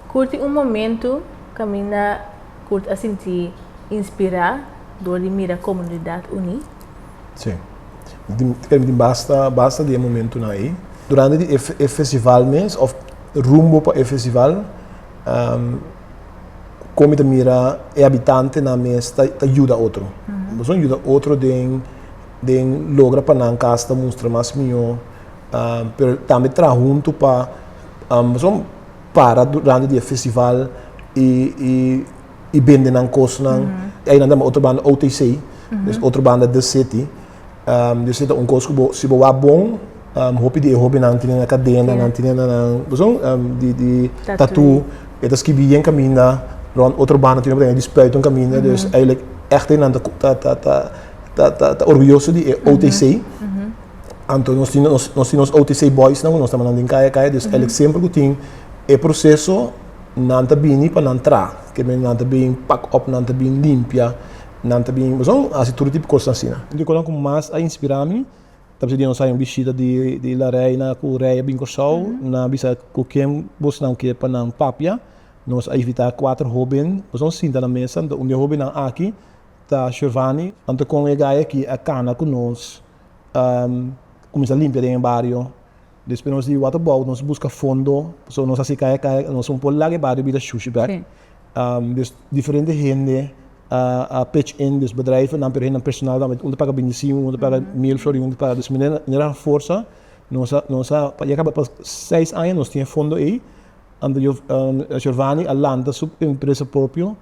Curti un momento caminda Curt a sinti inspira dor di mira comunidad uní. Sí. Cree mi tin basta, basta di e momentonan ei. Durante di e festival mes of rumbo pa e festival, con mi ta mira e habitantenan mes ta yuda otro. Boso yuda otro den logra pa nan cas ta mustra mas mihó, pero tambe traha hunto pa boso. para durante di e festival y bende nan cosnan y ayinan ta otro banda OTC des otro banda The City yo si ta un cos cu bo si bo wak bon hopi di e hobennan tinen nan cadena nan tinen nan pasobra di tattoo e ta skibi yen caminda rond otro banda tin obra di spuit un caminda dus eyelik echte nan ta orgulloso di e OTC. Anto nos tin nos tin nos OTC boysnan ku nos ta mandan den kaya kaya, dus elek semper ku tin e proseso nan ta bini pa nan traha, ke men nan ta bin pak op, nan ta bin limpia, nan ta bin pasobra nan hasi tur e tipo kosnan asina. Un di e kosnan ku mas a inspirá mi ta basha di nos haña un bishita di La Reina ku rei a bin Kòrsou, nan a bisa ku ken bosnan ke pa nan papia, nos a invitá kuater hóben pasobra sinta na mesa, un di e hóbennan aki ta Shervani, anto kon e gaya aki a kana ku nos. kuminsá limpia den e bario. Despues nos di wata bou, nos buska fondo, pasobra nos a hasi kaya kaya, nos un por laga e bario bira shushi bèk. Des diferente hende a pitch in, des bedrijvennan, pero hende personalnan, un ta paga binti singui, un ta paga mil florin, un ta paga, dus manera manera a forsa nos a nos a ya kaba pa seis aña nos tin e fondo ei, anto Giovani a lanta su empresa propio,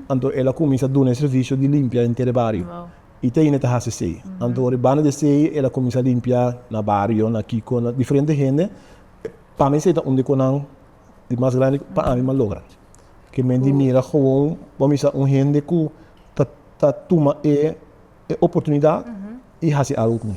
anto el a kuminsá duna e servisio di limpia enter e bario. I Teine ta hasi esei. Anto ora e banda di esei el a kuminsá limpiá na bario, na kiko, na diferente hende. Pa mi esei ta un di konan di mas grandi pa ánima logra. Ke men di mira gewoon bo a misa un hende ku ta tuma e oportunidat i hasi algu ku mi.